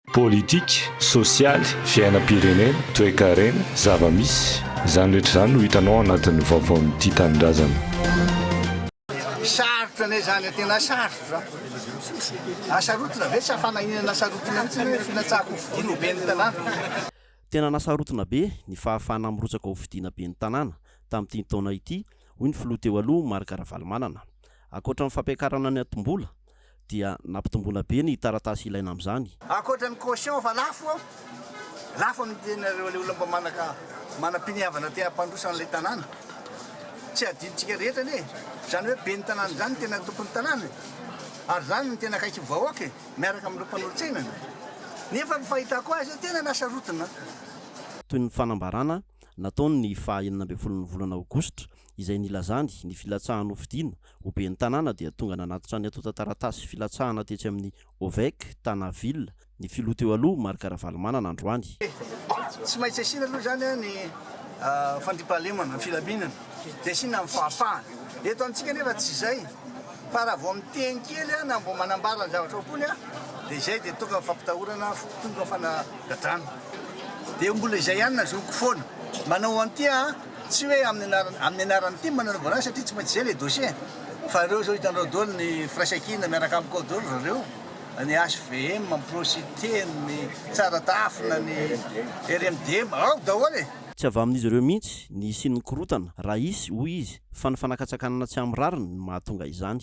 Politika, sosialy, fiainam-pirenena, toekarena, zava-misy, izany rehetra izany no hitanao ao anatin'ny vaovaon'ny Tia Tanindrazana. Sarotra anie izany, tena sarotra. Asarotina ve sa fanahiana asarotina mihitsy ny hoe filatsahan'ny fifidiana ho ben'ny tanàna? Tena nasarotina be ny fahafahana mirotsaka ho fidiana ben'ny tanàna tamin'ity taona ity, hoy ny filoha teo aloha Marc Ravalomanana. Ankoatra ny fampiakarana ny antom-bola, dia nampitomboina be ny taratasy ilaina amin'izany. Ankoatra ny caution efa lafo, lafo amin'ny tenanareo ilay olona mba manaka manam-piniavana te hampandroso an'ilay tanàna. Tsy adinontsika rehetra anie izany hoe ben'ny tanàna izany no tena tompon'ny tanàna e! Ary izany no tena akaiky ny vahoaka e! Miaraka amin'ireo mpanolotsainana. Nefa ny fahitako azy eo tena nasarotana. Toy ny fanambarana nataony ny faha enina ambin'ny folo ny volana aogositra izay nilazany ny filatsahan'ny hofidiana Ho ben'ny tanàna dia tonga nanatitra ny antontan-taratasy filatsahana tetsy amin'ny Ovec Tana Ville ny filoha teo aloha Marc Ravalomanana androany. Tsy maintsy asiana aloha izany ny fandriampahalemana, ny filaminana, dia asiana ny fahafahana. Eto amintsika anefa tsy izay fa raha vao miteny kely na vao manambara ny zavatra ao am-pony dia izay dia tonga fampitahorana, tonga fanagadrana. Dia mbola izay ihany na zoky foana. Manao an'ity aho. Tsy hoe amin'ny anarany amin'ny anaran'ny tim no anaovana azy satria tsy maintsy izay ilay dossier fa ireo izao hitanareo daholo ny firaisankina miaraka amiko ao daholo ry zareo, ny HVM, ny Procite, ny Tsara Tafona, ny RMDM, ao daholo e! Tsy avy amin'izy ireo mihitsy ny hisian'ny korontana, raha hisy, hoy izy, fa ny fanakatsakanana tsy amin'ny rariny no mahatonga izany.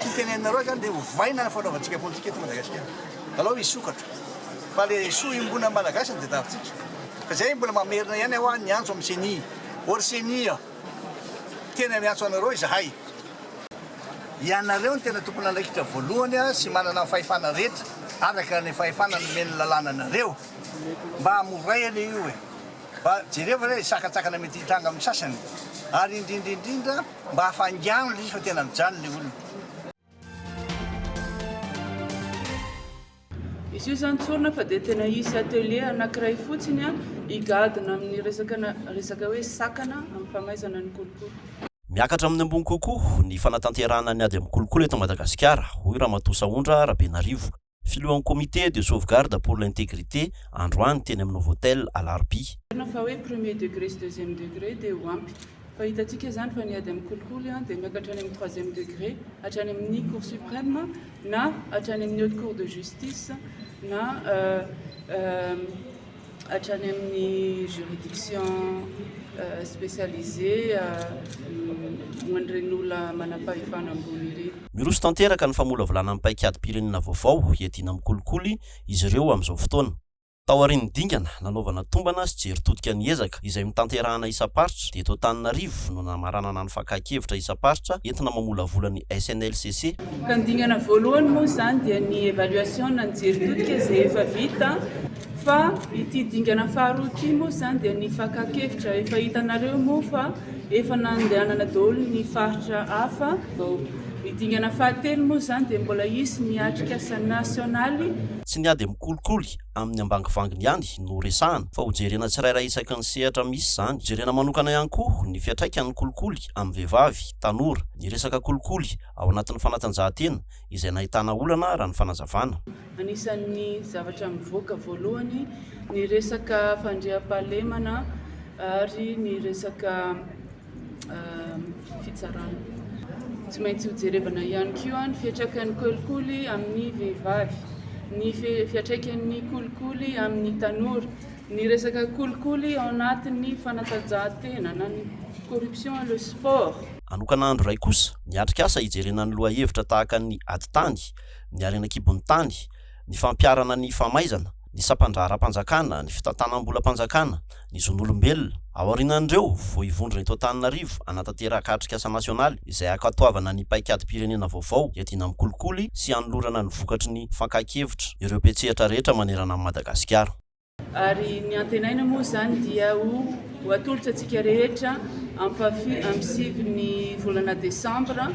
Ity teneninareo izany dia ovaina ny fanaovantsika politika eto Madagasikara. Alao hisokatra. Fa le soa iombonan'ny Malagasy no tadiavintsika. Fa izay mbola mamerina ihany hoa niantso amin'ny ceni. O ry ceni a! Tena miantso anareo izahay. Ianareo no tena tompon'andraikitra voalohany sy manana ny fahefana rehetra araka ny fahefana nomen'ny lalàna anareo. Mba moray anie io e! Mba jereo ve ilay sakantsakana mety hitranga amin'ny sasany. Ary indrindra indrindra. Mba afaingano ilay izy fa tena mijanona ilay olona. Izy io zany tsorina fa dia tena hisy atelier anakiray fotsiny higadona amin'ny resaka resaka hoe sakana amin'ny famaizana ny kolikoly. Miakatra amin'ny ambony kokoa ny fanatanterahana ny ady amin'ny kolikoly eto Madagasikara, hoy Ramatoa Sahondra Rabenarivo, filohan'ny Comité de sauvegarde pour l'intégrité androany teny amin'ny Novotel alarobia. Marina fa hoe premier degré sy deuxième degré dia ho ampy fa hitantsika izany fa ny ady amin'ny kolikoly dia miaka hatrany amin'ny troisième degré hatrany amin'ny cour suprême na hatrany amin'ny haute cour de justice na hatrany amin'ny juridiction specialisée ho an'ireny olona manam-pahefana ambony ireny. Miroso tanteraka ny famolavolana ny paikadim-pirenena vaovao hiadiana amin'ny kolikoly izy ireo amin'izao fotoana. Taorian'ny dingana nanaovana tombana sy jery todika ny ezaka izay notanterahana isam-paritra dia eto Antananarivo no namaranana ny fakan-kevitra isam-paritra entina mamolavola ny SNLCC. Ka ny dingana voalohany moa izany dia ny évaluation na ny jery todika izay efa vita. Fa ity dingana faharoa ity moa izany dia ny fakan-kevitra, efa hitanareo moa fa efa nandehanana daholo ny faritra hafa vao. Ny dingana fahatelo moa izany dia mbola hisy ny atrikasa nasionaly. Tsy ny ady mikolikoly amin'ny ambangivanginy ihany no resahana fa hojerena tsirairay isaky ny sehatra misy izany. Hojerena manokana ihany koa ny fiantraikan'ny kolikoly amin'ny vehivavy, tanora, ny resaka kolikoly ao anatin'ny fanatanjahantena izay nahitana olana raha ny fanazavana. Anisan'ny zavatra mivoaka voalohany ny resaka fandriampahalemana ary ny resaka fitsarana. Tsy maintsy hojerevana ihany koa ny fiantraikan'ny kolikoly amin'ny vehivavy, ny fiantraikan'ny kolikoly amin'ny tanora, ny resaka kolikoly ao anatin'ny fanatanjahantena na ny corruption et le sport. Hanokana andro iray kosa miatrika asa hijerena ny lohahevitra tahaka ny ady tany, ny harena an-kibon'ny tany, ny fampiharana ny famaizana, ny sampan-draharaham-panjakana, ny fitantanam-bolam-panjakana, ny zon'olombelona. Ao aorianan'ireo, vao hivondrona eto Antananarivo hanatanteraka atrikasa nasionaly izay hankatoavana ny paikadim-pirenena vaovao hiadiana amin'ny kolikoly sy hanolorana ny vokatry ny fakan-kevitra ireo mpiantsehatra rehetra manerana an'i Madagasikara. Ary ny antenaina moa izany dia ho ho atolotra antsika rehetra ampafi amin'ny sivy ny volana desambra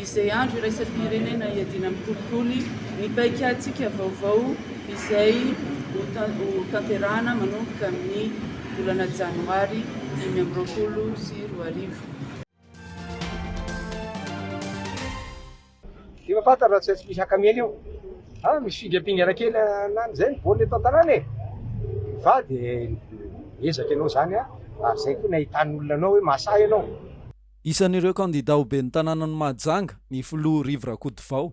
izay andro iraisam-pirenena iadiana amin'ny kolikoly ny paikatsika vaovao izay ho ta- ho tanterahana manomboka amin'ny volana janoary dimy amby roapolo sy roa arivo. Efa fantatra raha tsy hay tsy misy haka miely eo. Ah, misy fingapingana kely anany izay ny baolina eto an-tanàna e! Fa dia miezaka ianao izany a! ary izay koa ny ahitan'olona anao hoe mahasahy ianao. Isan'ireo kandida ho ben'ny tanànan'i Mahajanga ny filoha Rivo Rakotovao.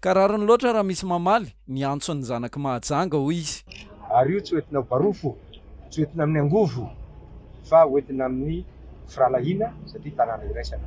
Ka rariny loatra raha misy mamaly ny antson'ny zanak'i Mahajanga, hoy izy. Ary io tsy ho entina ho barofo, tsy ho entina amin'ny angovo, fa ho entina amin'ny firahalahiana satria tanàna iraisana.